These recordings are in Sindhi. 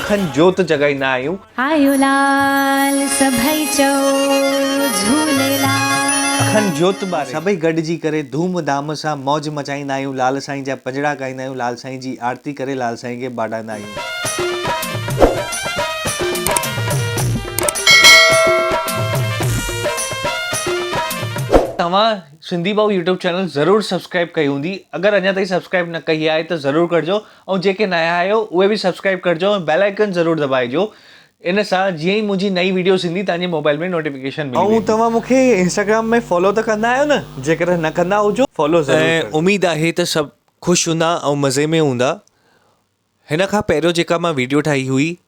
اکن جوت جڳائيندا آهيون. آيو لال سڀئي چئو جهوليلال. اکن جوت ٻاري سڀئي گڏجي ڪري ڌوم ڌام سان موج مچائيندا آهيون لال سائين جا پڄڙا ڳائيندا آهيون لال سائين جي آرتي ڪري لال سائين کي ٻاڏائيندا آهيون. توهان سنڌي ڀائو يوٽيوب چينل ضرور سبسڪرائب ڪئي هوندي اگر اڃا تائين سبسڪرائب نه ڪئي آهي ته ضرور ڪرجو. ۽ جيڪي نايان آهيو اهي به سبسڪرائب ڪرجو ۽ بيل آئيڪن ضرور دٻائجو ان سان جيئن ئي منهنجي نئين ويڊيوز ايندي توهان جي موبائل ۾ نوٽيفڪيشن ملي ويندي. ۽ توهان مون کي انسٽاگرام ۾ فالو ته ڪندا آهيو نه جيڪڏهن نه ڪندا هجو فالو ضرور ڪرجو. ۽ اميد آهي ته سڀ خوش هوندا ۽ مزي ۾ هوندا هن کان پهريون جيڪا مان ويڊيو ٺاهي هئي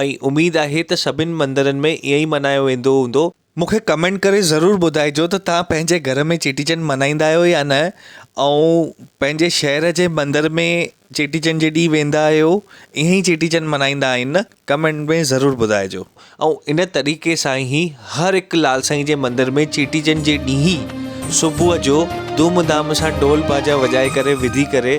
۽ اميد آهي ته سڀني مندرن ۾ ائين ئي ملهايو ويندو هوندو. مون کي ڪمينٽ ڪري ضرور ٻڌائجو ته توهان پنهنجي گهر ۾ چيٽي چنڊ ملهائيندا آهيو يا نه ۽ پنهنجي شهر جي مندر ۾ چيٽي چنڊ جي ڏينهن ويندا آهيو ائين ئي چيٽي چنڊ ملهائيندا آهن نه ڪمينٽ ۾ ضرور ٻڌائجو. ۽ ان طريقي سان هي هر هڪ لال سائين جي مندر ۾ چيٽي چنڊ جي ڏينهن ئي صبح جو ڌوم ڌام سان ڊول باجا وڄائي ڪري وڌي ڪري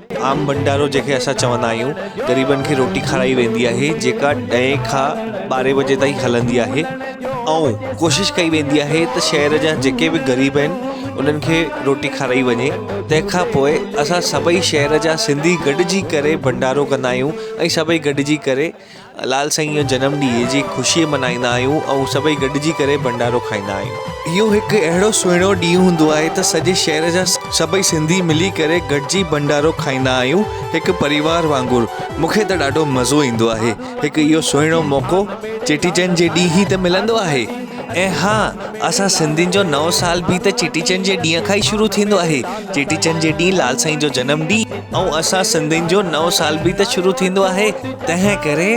عام ڀنڊارو جنهن کي اسان چوندا آهيون غريبن کي روٽي کارائي ويندي آهي جيڪا ڏهين کان ٻارهين بجي تائين هلندي آهي ۽ ڪوشش ڪئي ويندي آهي ته شهر جا جيڪي به غريب آهن انهن کي روٽي کارائي وڃي تنهن کان پوء اسان سڀئي شهر جا سنڌي گڏجي ڪري ڀنڊارو ڪندا آهيون ۽ سڀئي گڏجي ڪري لال سائين جو جنم ڏينهن جي خوشي ملهائيندا آهيون ۽ سڀئي گڏجي ڪري ڀنڊارو کائيندا آهيون. اهو هڪ اهڙو سهڻو ڏينهن هوندو آهي ته سڄي شهر جا سڀئي سنڌي ملي ڪري گڏجي ڀنڊارو کائيندا آهيون هڪ پريوار وانگر. مون کي ته ڏاڍو مزو ايندو آهي. هڪ اهو سهڻو موقعو چيٽي چنڊ جي ڏينهن ئي ته ملندو آهي ۽ ها اسان سنڌين جو نئون سال به ته چيٽي چنڊ جي ڏينهن کان ئي شروع ٿيندو آهي. چيٽي چنڊ جي ڏينهن لال سائين جو جنم ڏينهن ۽ اسان سنڌين جو نئون سال به ته شروع ٿيندو آهي. تنهن ڪري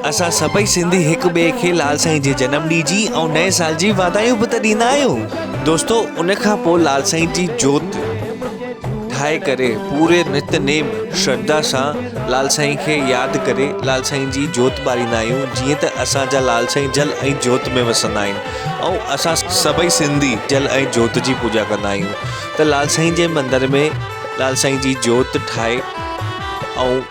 اسان سڀئي سنڌي هڪ ٻئي کي لال سائين جي جنم ڏينهن جي ۽ نئين سال جي واڌايون به ته ڏيندا آهيون دوستو ان کان پوء لال سائين جي جوت ٺاهي ڪري پوري نت نيم شرڌا سان لال سائين کي ياد ڪري لال سائين جي جوت ٻاريندا آهيون جيئن ته اسان جا لال سائين جل ۽ جوت ۾ وسندا آهن ۽ اسان سڀئي سنڌي جل ۽ جوت جي پوڄا ڪندا آهيون ته لال سائين جي مندر ۾ لال سائين جي جوت ٺاهي ۽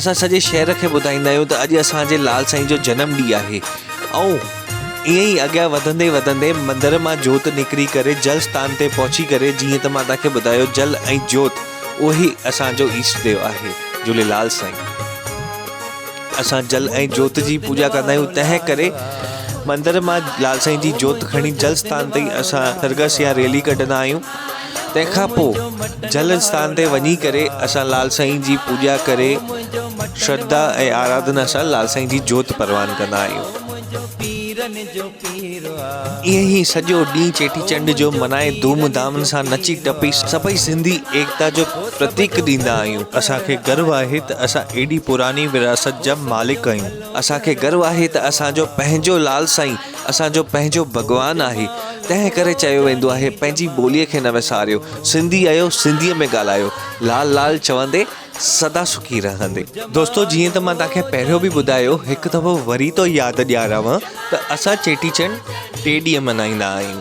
اسان سڄي شهر کي ٻڌائيندا آهيون ته اڄ اسان جي لال سائين جو جنم ڏينهن آهي ۽ ائين ئي اڳيان وڌندي وڌندي مندر مان جوت نڪري ڪري جل ستان تي پهچي ڪري جيئن ته مان توهان کي ٻڌايو جل ۽ جوت اهي اسان جو ايشٽ ديو آهي جهوليلال سائين اسان جل ۽ جوت جي پوڄا ڪندا آهيون تنهن ڪري مندر مان لال سائين جي جوت کڻي جل ستان تي اسان سرگس يا ريلي ڪڍندا آهيون تنهن کان پوء جل اسٿان تي وڃي ڪري اسان لال سائين جي پوڄا ڪري شرڌا ۽ آراڌنا سان لال سائين جي جوت پروان ڪندا آهيون ائين هي سڄو ڏينهن چيٽي چنڊ جو منائي ڌوم ڌام سان نچي ٽپي سڀئي سنڌي ايڪتا جو پرتيڪ ڏيندا آهيون اسان کي گرو آهي ته اسان ايڏي پراني ورهاست جا مالڪ آهيون اسان کي گرو آهي ته اسان جو پنهنجو لال سائين اسان جو پنهنجو ڀڳوان آهي تنهن ڪري چيو ويندو آهي پنهنجي ٻوليء کي نه وساريو سنڌي اهيو سنڌيء ۾ ڳالهايو لال لال چوندي سدا سکي رهندي. دوستو جيئن ته مان توهان کي پهريون به ٻڌايو هڪ دفعو وري ٿو ياد ڏيارانو ته اسان چيٽي چنڊ ٽي ڏينهن ملهائيندا آهيون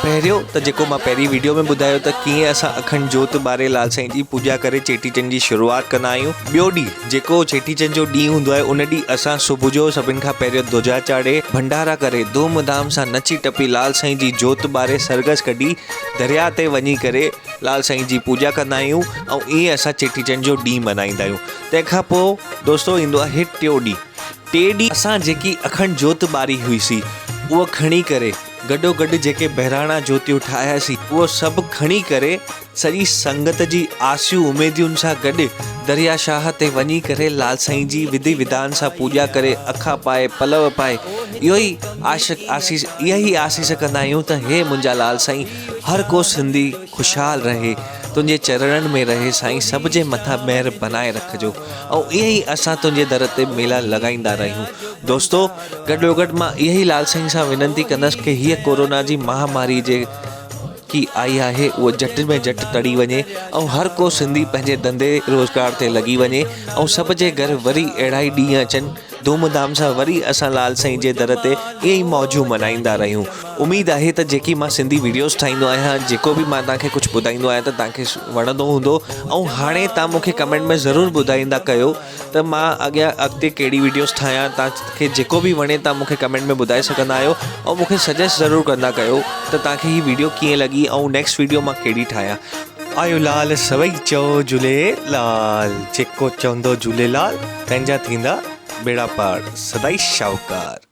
پهريون ته جيڪو مان پهرين ويڊيو ۾ ٻڌايو ته ڪيئن اسان اکنڊ جوت ٻاري لال سائين جي پوڄا ڪري چيٽي چنڊ جي شروعات ڪندا آهيون ٻيو ڏينهن جيڪو چيٽي چنڊ جو ڏينهن هوندو آهي ان ڏينهن اسان صبح جو سڀن کان پهريون ڌوجا چاڙهي ڀنڊارا ڪري ڌوم ڌام سان نچي ٽپي لال سائين جي جوت ٻاري سرگس ڪڍي درياء تي وڃي ڪري لال سائين جي پوڄا ڪندا آهيون ۽ ائين اسان چيٽي چنڊ جو ڏينهن ملهائيندا آهيون تنهن کان پوء دوستو ايندو آهي ٽيون ڏينهن ٽي ڏينهن اسان جيڪي اکنڊ جوت ٻاري هئي سي اهو کڻي ڪري گڏو گڏ جيڪي بهراڻا جوتيون ٺاهياسي اهو سڀ کڻي ڪري سڄي سنگت جي آسيون اميديون سان گڏ دريا شاهه تي وڃي ڪري لال سائين جي وڌي وڌان سان پوڄا ڪري اکا پائي پلو پائي اهو ئي عاشق آسيس اها ئي آسيس ڪندا آهيون ته هي منهنجا لال سائين هر ڪو سنڌي خوشحال رهي تنهنجي چرڻن ۾ رهي سائين سڀ جي مٿان مهر بنائي رکجو ۽ ائين ئي اسان تنهنجي در تي ميلا لڳائيندا رهيون دوستو گڏوگڏ مان اها ئي لال سائين سان وينتي ڪندس ڪه هيء ڪورونا جي مهاماري جي ڪي آئي آهي اهو جهٽ ۾ جهٽ تڙي وڃي ۽ هر ڪو سنڌي پنهنجي ڌنڌي روزگار تي لڳي وڃي ۽ سڀ جي گهر وري اهڙا ئي ڏينهن اچن ڌوم ڌام سان وري اسان لال سائين جي در تي ائين ئي موجون ملهائيندا رهيون اميد آهي ته جيڪي مان سنڌي ويڊيوز ٺاهيندو آهيان جيڪو به مان توهان کي ڪجهه ٻڌائيندو آهيان ته توهان کي وڻندو هوندو ۽ هاڻي توهان مون کي ڪمينٽ ۾ ضرور ٻڌائيندا ڪيو ته مان اڳيان اڳتي ڪهڙي وڊيوز ٺاهيان توهان کي جيڪو به وڻي توهان مونکي ڪمينٽ ۾ ٻڌائي سگهندا آهيو ۽ مونکي سجيسٽ ضرور ڪندا ڪيو ته توهان کي هي وڊيو ڪيئن لڳي ۽ نيڪسٽ وڊيو مان ڪهڙي ٺاهيان آيو لال سوئي چئو جهوليلال جيڪو چوندو جهوليلال تنهن جا ٿيندا ٻيڙا پار سدائي شاهوڪار.